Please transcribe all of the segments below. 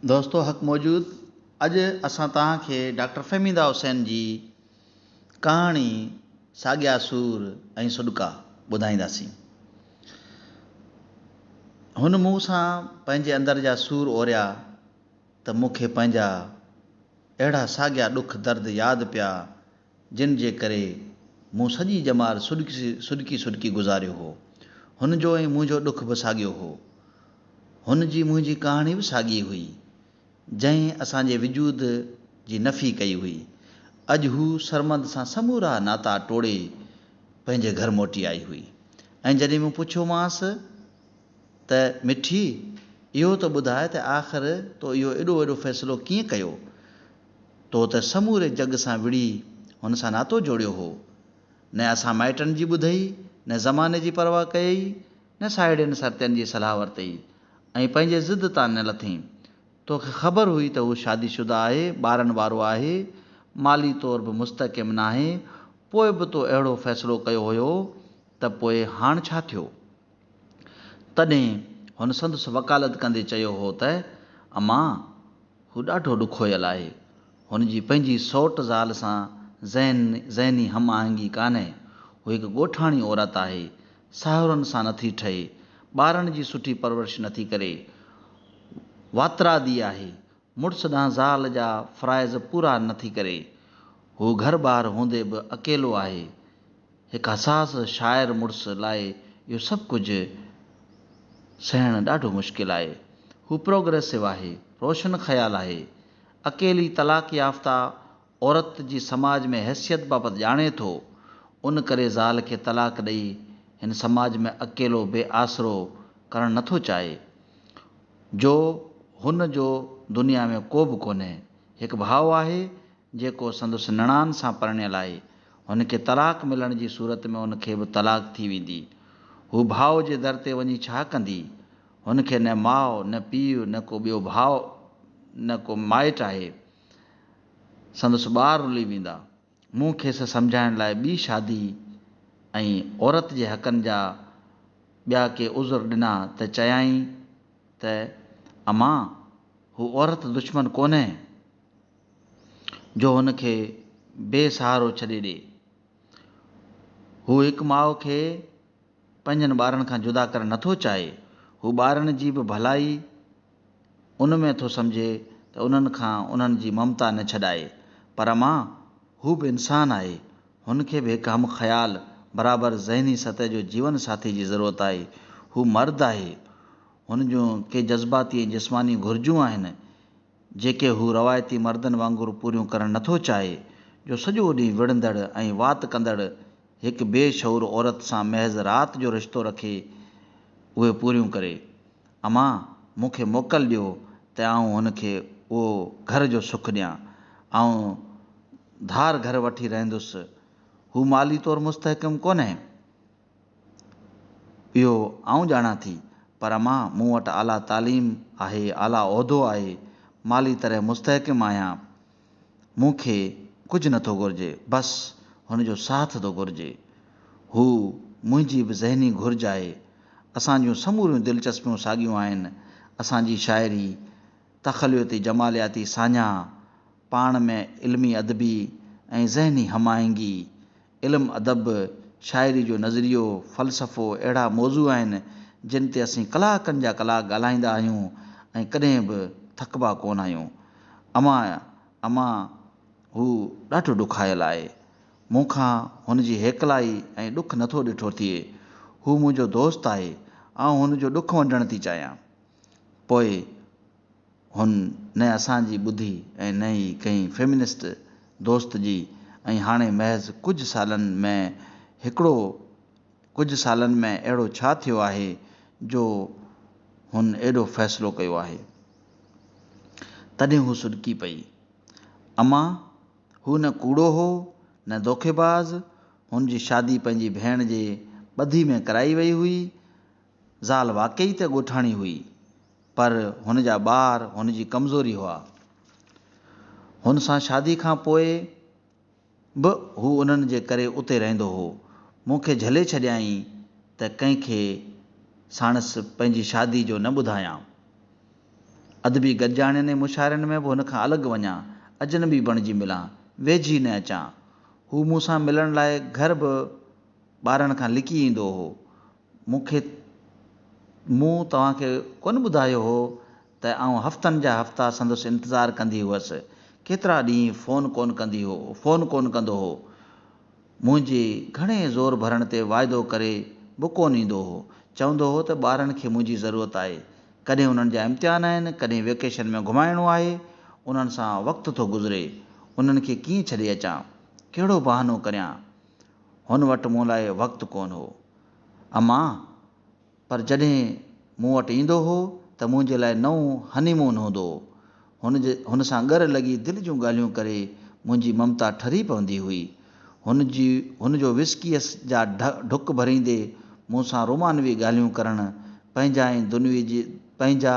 دوستو حق موجود اڄ اسان توهان کي ڊاڪٽر فهميده حسين جي ڪهاڻي ساڳيا سور ۽ سڏڪا ٻڌائينداسين. هن مون سان پنهنجي اندر جا سور اوريا ته مون کي پنهنجا اهڙا ساڳيا ڏک درد ياد پيا جن جي ڪري مون سڄي ڄمار سڏڪي سڏڪي گذاريو هو. هن جو ۽ منهنجو ڏک به ساڳيو هو. هن جي منهنجي ڪهاڻي به ساڳي هئي، جنهن اسان جي وجود جي نفي ڪئي هئي. اڄ هو سرمد سان سمورا ناتا ٽوڙي پنهنجي گهر موٽي آئي هئي ۽ جڏهن مون پڇيومانس ته مٺي اهو ته ٻڌاء ته آخر تو اهو ايڏو وڏو فيصلو ڪيئن ڪيو؟ تو ته سموري جڳ سان وڙهي هن سان ناتو جوڙيو هو. نه اسان مائٽن جي ٻڌئي، نه زماني جي پرواهه ڪيئي، نه ساهيڙين سرتين جي صلاح ورتئي ۽ پنهنجي ضد تان نه لٿين. تو کي خبر هئي ته هو شادي شده آهي، ٻارن وارو آهي، مالي طور به مستحڪم ناهي، پوء به تو اهڙو فيصلو ڪيو هيو ته پوء هاڻ ڇا ٿيو؟ تڏهن هن سندس وڪالت ڪندي چيو هو ته، اما، هو ڏاڍو ڏکويل آهي. هن جي پنهنجي سئوٽ زال سان ذهني هم آهنگي ڪانهي. هو هڪ ڳوٺاڻي عورت آهي. ساهرن سان نٿي ٺهي. ٻارن جي سٺي پرورش نٿي ڪري. واترادي آهي. مڙس ڏانهن زال جا فرائض پورا نه ٿي ڪري. هو گهر ٻار هوندي به اڪيلو آهي. هڪ حساس شاعر مڙس لاء اهو سڀ ڪجهه سهڻ ڏاڍو مشڪل آهي. هو پروگريسو آهي، روشن خيال آهي. اڪيلي طلاق يافته عورت جي سماج ۾ حيثيت بابت ڄاڻي ٿو، ان ڪري زال کي طلاق ڏئي هن سماج ۾ اڪيلو بي آسرو ڪرڻ نه ٿو چاهي، جو هن جو دنيا ۾ ڪو به ڪونهي. هڪ ڀاء آهي، جيڪو سندس نڻان سان پرڻيل آهي. هن کي طلاق ملڻ جي صورت ۾ هن کي به طلاق ٿي ويندي. هو ڀاء جي در تي وڃي ڇا ڪندي؟ هن کي نه ماء، نه پيء، نه ڪو ٻيو ڀاء، نه ڪو مائٽ آهي. سندس ٻار رلي ويندا. مون کيس سمجهائڻ لاء ٻي شادي ۽ عورت جي حقن جا ٻيا ڪي عذر ڏنا ته چيائين ته امان هو عورت دشمن ڪونهي جو هن کي بي سهارو ڇڏي ڏي. هو هڪ ماء کي پنهنجن ٻارن کان جدا ڪرڻ نه ٿو چاهي، هو ٻارن جي به ڀلائي ان ۾ ٿو سمجهي ته انهن کان انهن جي ممتا نه ڇڏائي. پر اما، هو به انسان آهي، هن کي به هڪ هم خيال، برابر ذهني سطح جو جيون ساٿي جي ضرورت آهي. هو مرد آهي، هن جون ڪي جذباتي ۽ جسماني گهرجون آهن، جيڪي هو روايتي مردن وانگر پوريون ڪرڻ نٿو چاهي، جو سڄو ڏينهن وڙهندڙ ۽ وات ڪندڙ هڪ بي شعور عورت سان محض رات جو رشتو رکي اهي پوريون ڪري. امان، مون کي موڪل ڏيو ته آئون هن کي اهو گهر جو سک ڏيان. آئون ڌار گهر وٺي رهندس. هو مالي طور مستحڪم ڪونهي. اهو آئون ڄاڻان ٿي، پر اما، مون وٽ اعليٰ تعليم آهي، اعليٰ عهدو آهي، مالي طرح مستحڪم آهيان. مون کي ڪجهه نه ٿو گهرجي، بس هن جو ساٿ ٿو گهرجي. هو منهنجي به ذهني گهرج آهي. اسان جون سموريون دلچسپيون ساڳيون آهن. اسان جي شاعري، تخليتي جمالياتي ساڃاهه، پاڻ ۾ علمي ادبي ۽ ذهني هم آهنگي، علم، ادب، شاعري جو نظريو، فلسفو اهڙا موضوع آهن جن تي اسين ڪلاڪن جا ڪلاڪ ڳالهائيندا آهيون ۽ ڪڏهن به ٿڪبا ڪونه آهيون. امان، امان، هو ڏاڍو ڏکايل آهي. مون کان هن جي هيڪلائي ۽ ڏک نٿو ڏٺو ٿئي. هو منهنجو دوست آهي. آئون هن جو ڏک ونڊڻ ٿي چاهيان. پوء هن نه اسان جي ٻڌي ۽ نه ئي ڪنهن فيمنسٽ دوست جي ۽ هاڻي محض ڪجهه سالن ۾ هڪڙو ڪجهه سالن ۾ اهڙو ڇا ٿيو آهي جو هن ايڏو فيصلو ڪيو آهي؟ تڏهن هو سڏڪي پئي. اما! هو نه ڪوڙو هو نه دوکي باز، هن جي شادي پنهنجي ڀيڻ جي ٻڌي ۾ ڪرائي وئي هئي، زال واقعي ته ڳوٺاڻي هئي، پر هن جا ٻار هن جي ڪمزوري هئا. هن سان شادي کان پوء به هو انهن جي ڪري اتي رهندو هو. مون کي جهلي ڇڏيائين ته ڪنهن کي ساڻس پنهنجي شادي جو نه ٻڌايان. ادبي گڏجاڻين ۽ مشاعرن ۾ به هن کان الڳ وڃان، اجنبي بڻجي ملان، ويجهي ئي نه اچان. هو مون سان ملڻ لاء گهر به ٻارن کان لڪي ايندو هو. مون کي مون توهان کي ڪونه ٻڌايو هو ته آئون هفتن جا هفتا سندس انتظار ڪندي هئس. ڪيترا ڏينهن فون ڪونه ڪندي هو فون ڪونه ڪندو هو. منهنجي گهڻي زور ڀرڻ تي واعدو ڪري به ڪونه ايندو هو. چوندو هو ته ٻارن کي منهنجي ضرورت آهي. ڪڏهن انهن جا امتحان آهن، ڪڏهن ويڪيشن ۾ گهمائڻو آهي. انهن سان وقت ٿو گذري. انهن کي ڪيئن ڇڏي اچان. ڪهڙو بهانو ڪريان. هن وٽ مون لاء وقت ڪونه هو. امان، پر جڏهن مون وٽ ايندو هو ته منهنجي لاء نئون هني مون هوندو هو. هن سان ڳر لڳي دل جون ڳالهيون ڪري منهنجي ممتا ٺري پوندي هئي. هن جو وسڪيء جا ڍڪ ڀريندي مون سان رومانوي ڳالهيون ڪرڻ، پنهنجا ۽ پنهنجا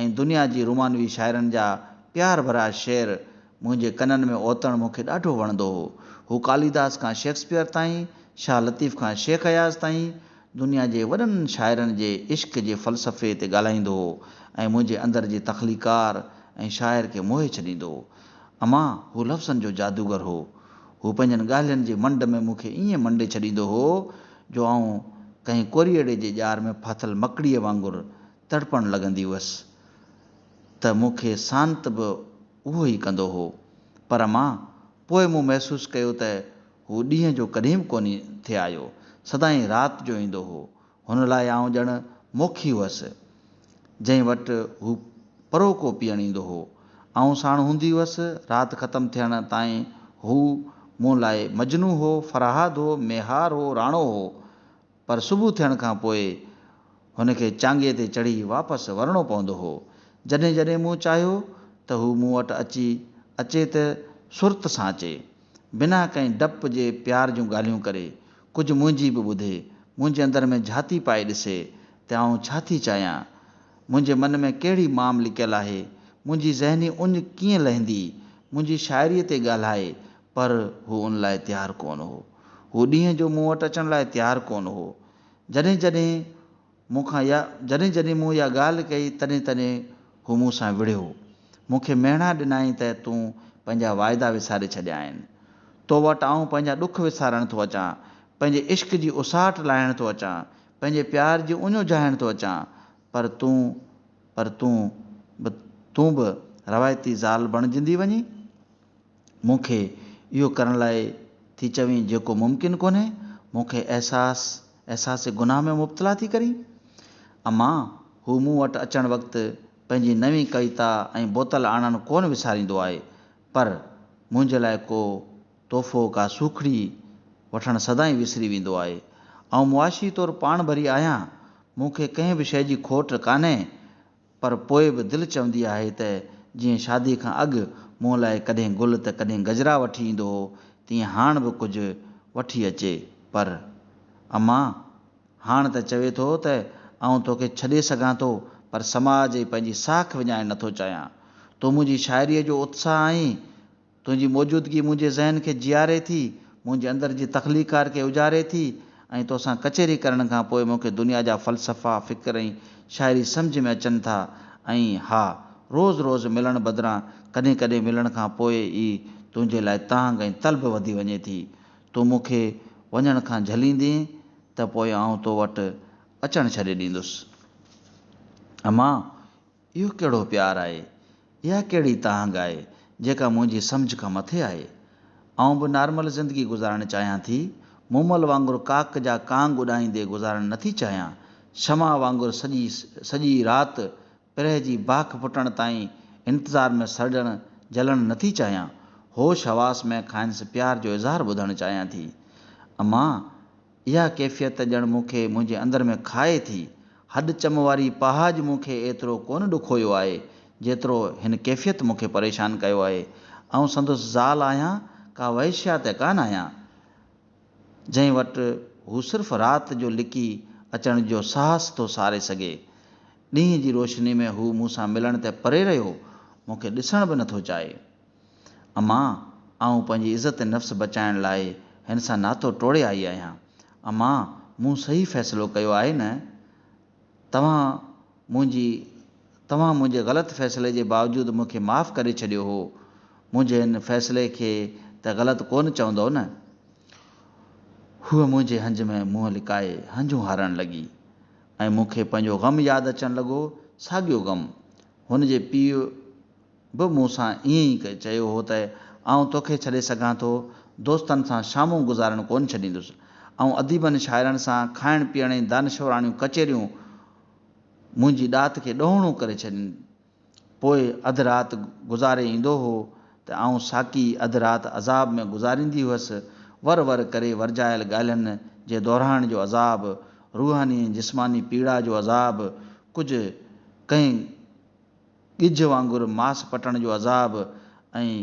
۽ دنيا جي رومانوي شاعرن جا پيار ڀريا شعر منهنجي ڪنن ۾ اوتڻ مون کي ڏاڍو وڻندو هو. هو ڪاليداس کان شيڪسپيئر تائين، شاهه لطيف کان شيخ اياز تائين، دنيا جي وڏن شاعرن جي عشق جي فلسفي تي ڳالهائيندو هو ۽ منهنجي اندر جي تخليقڪار ۽ شاعر کي موهي ڇڏيندو هو. اما، هو لفظن جو جادوگر هو. هو پنهنجن ڳالهين جي منڊ ۾ مون کي ائين منڊي ڇڏيندو هو جو آئون ڪنهن ڪوريئڙي جي ڄار ۾ ڦاٿل مڪڙيء وانگر تڙپڻ لڳندي هئس ته مون کي سانت به اهو ئي ڪندو هو. پر مان، پوء مون محسوس ڪيو ته هو ڏينهن جو ڪڏهن به ڪونهي ٿي آيو. سدائين رات جو ايندو هو. هن لاء آئون ڄڻ موکي هئس، جنهن وٽ هو پروڪو پيئڻ ايندو هو. آئون ساڻ هوندي هئس. رات ختم ٿيڻ تائين هو مون لاء مجنو هو، فرهاد هو، ميهار هو، راڻو هو. پر صبح ٿيڻ کان پوء هن کي چانگي تي چڙهي واپس ورڻو پوندو هو. جڏهن جڏهن مون چاهيو ته هو مون وٽ اچي اچي ته سرت سان اچي. بنا ڪنهن ڊپ جي پيار جون ڳالهيون ڪري. ڪجهه منهنجي به ٻڌي. منهنجي اندر ۾ جهاتي پائي ڏسي ته آئون ڇا ٿي چاهيان. منهنجي من ۾ ڪهڙي مام لڪيل آهي. منهنجي ذهني اڃ ڪيئن لهندي. منهنجي شاعريء تي ڳالهائي. پر هو ان لاء تيار ڪونه هو. هو ڏينهن جو مون وٽ اچڻ لاء تيار ڪونه هو. جڏهن جڏهن مون کان يا جڏهن جڏهن مون اها ڳالهه ڪئي تڏهن تڏهن هو مون سان وڙهيو. مون کي مهڻا ڏنائين ته تون پنهنجا وعدا وساري ڇڏيا آهن. تو وٽ آئون پنهنجا ڏک وسارڻ ٿو اچان، پنهنجي عشق جي اساٽ لاهڻ ٿو اچان، پنهنجي پيار جي اڃو جهائڻ ٿو اچان، پر تون پر تون به تون به روايتي زال بڻجندي وڃين. مون کي اهو ڪرڻ لاء ٿي چوين جيڪو ممڪن ڪونهي، مون کي احساس احساس گناهه ۾ مبتلا ٿي ڪرين. اما، هو مون وٽ اچڻ وقت پنهنجي نوين ڪويتا ۽ بوتل آڻڻ ڪونه وساريندو آهي، پر منهنجي لاء ڪو تحفو، ڪا سوکڙي وٺڻ سدائين وسري ويندو آهي. آئون معاشي طور پاڻ ڀري آهيان، مون کي ڪنهن به شيء جي کوٽ ڪانهي، پر پوء به دل چوندي آهي ته جيئن شاديء کان اڳ مون لاء ڪڏهن گل ته ڪڏهن گجرا وٺي ايندو هو، تيئن هاڻ به ڪجهه وٺي اچي. پر امان! هاڻ ته چوي ٿو ته آئون توکي ڇڏي سگهان ٿو، پر سماج ۽ پنهنجي ساک وڃائڻ نٿو چاهيان. تون منهنجي شاعريء جو اتساهه آهين. تنهنجي موجودگي منهنجي ذهن کي جياري ٿي، منهنجي اندر جي تخليقڪار کي اجاري ٿي ۽ توسان ڪچهري ڪرڻ کان پوء مون کي دنيا جا فلسفا، فڪر ۽ شاعري سمجهه ۾ اچن ٿا ۽ ها، روز روز ملڻ بدران ڪڏهن ڪڏهن ملڻ کان پوء ئي تنهنجي لاء تانگهه ۽ طلب وڌي وڃي ٿي. تون مون کي وڃڻ کان جهليندين ته پوء آئون تو وٽ اچڻ ڇڏي ڏيندس. امان! اهو ڪهڙو پيار آهي، اها ڪهڙي تهنگ آهي، جيڪا منهنجي سمجهه کان مٿي آهي. آئون به نارمل زندگي گذارڻ چاهيان ٿي، مومل وانگر ڪاڪ جا ڪانگ اڏائيندي گذارڻ نٿي چاهيان، شمع وانگر سڄي سڄي رات پرهه جي باک ڦٽڻ تائين انتظار ۾ سڙجڻ جلڻ نٿي چاهيان، هوش حواس ۾ کانئس پيار جو اظهار ٻڌڻ چاهيان ٿي. امان! اها ڪيفيت ڄڻ مون کي منهنجي اندر ۾ کائي ٿي. هڏ چم واري پهاج مون کي ايترو ڪونه ڏکويو آهي، جيترو هن ڪيفيت مون کي پريشان ڪيو آهي. آئون سندس زال آهيان، ڪا وحشيا ته ڪانه آهيان، جنهن وٽ هو صرف رات جو لڪي اچڻ جو ساهس ٿو ساري سگهي. ڏينهن جي روشني ۾ هو مون سان ملڻ ته پري رهيو، مون کي ڏسڻ به نٿو چاهي. امان، آئون پنهنجي عزت نفس بچائڻ لاء هن سان ناتو ٽوڙي آئي آهيان. امان، مون صحيح فيصلو ڪيو آهي نه؟ توهان منهنجي توهان منهنجي غلط فيصلي جي باوجود مون کي معاف ڪري ڇڏيو هو. منهنجي هن فيصلي کي ته غلط ڪونه چوندؤ نه؟ هوء منهنجي هنج ۾ منهن لڪائي هنجون هارڻ لڳي ۽ مون کي پنهنجو غم ياد اچڻ لڳو، ساڳيو غم. هن جي پيء به مون سان ائين ئي چيو هو ته آئون توکي ڇڏي سگهان ٿو، دوستن سان شامون گذارڻ ڪونه ڇڏيندس. آئون اديبن شاعرن سان کائڻ پيئڻ ۽ دانشوراڻيون ڪچهريون منهنجي ڏات کي ڏهوڻو ڪري ڇڏين. پوء اڌ رات گذاري ايندو هو ته آئون ساقي اڌ رات عذاب ۾ گذاريندي هئس، ور ور ڪري ورجايل ڳالهين جي دهرائڻ جو عذاب، روحاني ۽ جسماني پيڙا جو عذاب، ڪجهه ڪنهن ڳجهه وانگر ماس پٽڻ جو عذاب ۽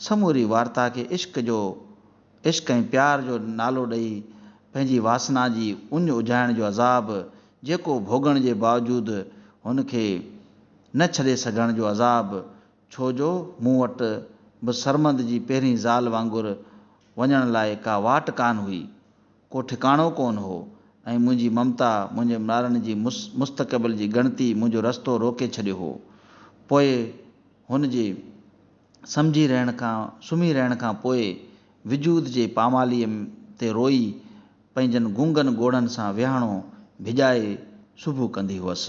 سموري وارتا کي عشق جو عشق ۽ پيار جو نالو ڏئي پنهنجي واسنا جي اڃ اجهائڻ جو عذاب جيڪو ڀوڳڻ جي باوجود هن کي نه ڇڏي سگهڻ جو عذاب ڇو جو مون وٽ به سرمد جي پهرين زال وانگر وڃڻ لاء ڪا واٽ ڪانه هئي ڪو ٺڪاڻو ڪونه هو ۽ منهنجي ممتا، منهنجي ملارن جي مستقبل جي ڳڻتي منهنجو رستو روڪي ڇڏيو هو. پوء هن جي سمجهي رهڻ کان، سمهي رهڻ کان پوء وجود جي پاماليء تي روئي، پنهنجن گنگن ڳوڙهن سان ويهاڻو ڀڄائي سوڀو ڪندي هئس.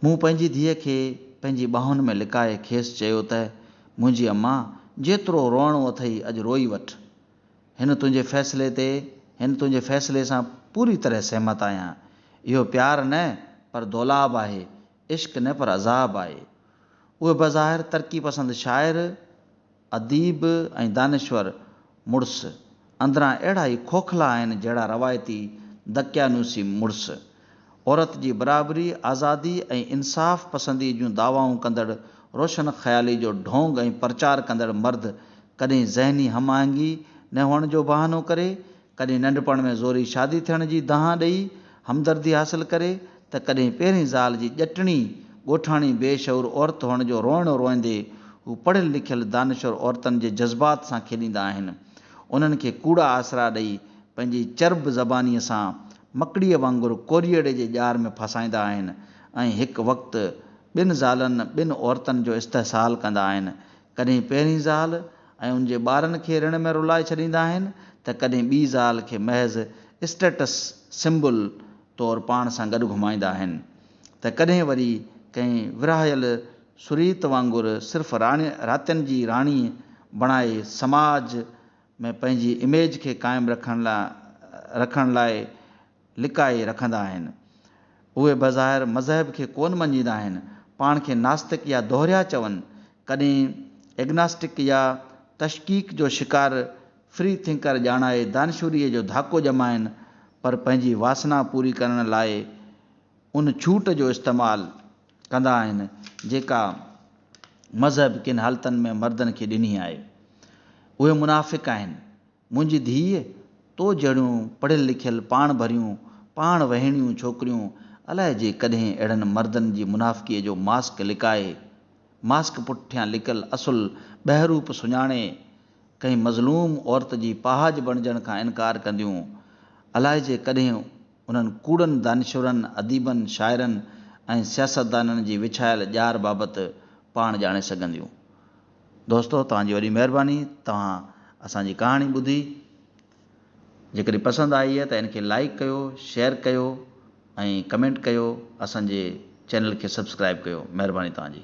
مون پنهنجي ڌيء کي پنهنجي ٻانهن ۾ لڪائي کيس چيو ته، منهنجي امان! جيترو روئڻو اٿئي اڄ روئي وٺ. هن تنهنجي فيصلي تي هن تنهنجي فيصلي سان پوري طرح سهمت آهيان. اهو پيار نه پر دولاب آهي، عشق نه پر عذاب آهي. اهي بظاهر ترقي پسند شاعر، اديب ۽ دانشور مڙس اندران اهڙا ئي کوکلا آهن جهڙا روايتي دقيانوسي مڙس. عورت جي برابري، آزادي ۽ انصاف پسندي جون دعوائون ڪندڙ روشن خيالي جو ڍونگ ۽ پرچار ڪندڙ مرد ڪڏهن ذهني هم آهنگي نه هئڻ جو بهانو ڪري، ڪڏهن ننڍپڻ ۾ زوري شادي ٿيڻ جي دانهن ڏئي همدردي حاصل ڪري ته ڪڏهن پهرين زال جي ڄٽڻي ڳوٺاڻي بي شعور عورت هئڻ جو روئڻو روئندي هو پڙهيل لکيل دانشور عورتن جي جذبات سان کيڏيندا آهن انهن کي ڪوڙا آسرا ڏئي پنهنجي چرب زباني سان مڪڙيء وانگر ڪوريئڙي جي ڄار ۾ ڦاسائيندا آهن ۽ هڪ وقت ٻن زالن ٻن عورتن جو استحصال ڪندا آهن. ڪڏهن پهرين زال ۽ ان جي ٻارن کي رڻ ۾ رلائي ڇڏيندا آهن ته ڪڏهن ٻي زال کي محض اسٽيٽس سمبل طور پاڻ سان گڏ گهمائيندا آهن ته ڪڏهن وري ڪنهن ورهايل سريت وانگر صرف راڻي راتين جي راڻي بڻائي سماج ۾ پنهنجي اميج کي قائم رکڻ لاء رکڻ لاء لڪائي رکندا آهن. اهي بظاهر مذهب کي ڪونه مڃيندا آهن، پاڻ کي ناستڪ يا دوهريا چون، ڪڏهن اگناسٽڪ يا تشڪيڪ جو شڪار فري ٿنڪر ڄاڻائي دانشوريء جو ڌاڪو ڄمائن، پر پنهنجي واسنا پوري ڪرڻ لاء ان ڇوٽ جو استعمال، ڪندا آهن جيڪا مذهب ڪن حالتن ۾ مردن کي ڏني آهي اهي منافق آهن منهنجي ڌيء تو جهڙيون پڙهيل لکيل پاڻ ڀريون پاڻ وهيڻيون ڇوڪريون الائي جي ڪڏهن اهڙن مردن جي منافقي جو ماسڪ لڪائي ماسڪ پٺيان لڪل اصل ٻهروپ سڃاڻي ڪنهن مظلوم عورت جي پهاڄ بڻجڻ کان انڪار ڪنديون الائي جي ڪڏهن انهن ڪوڙن دانشورن، اديبن، شاعرن ۽ سياستدانن جي وڇايل ڄار بابت پاڻ ڄاڻي سگهنديون. دوستو توهان جي وڏي مهرباني توهان اسان جي ڪهاڻي ٻڌي. جيڪڏهن پسند آئي ته ان کي لائيڪ ڪيو، شيئر ڪيو ۽ ڪمينٽ ڪيو. اسان جي چينل کي سبسڪرائيب ڪيو. مهرباني توهان جي.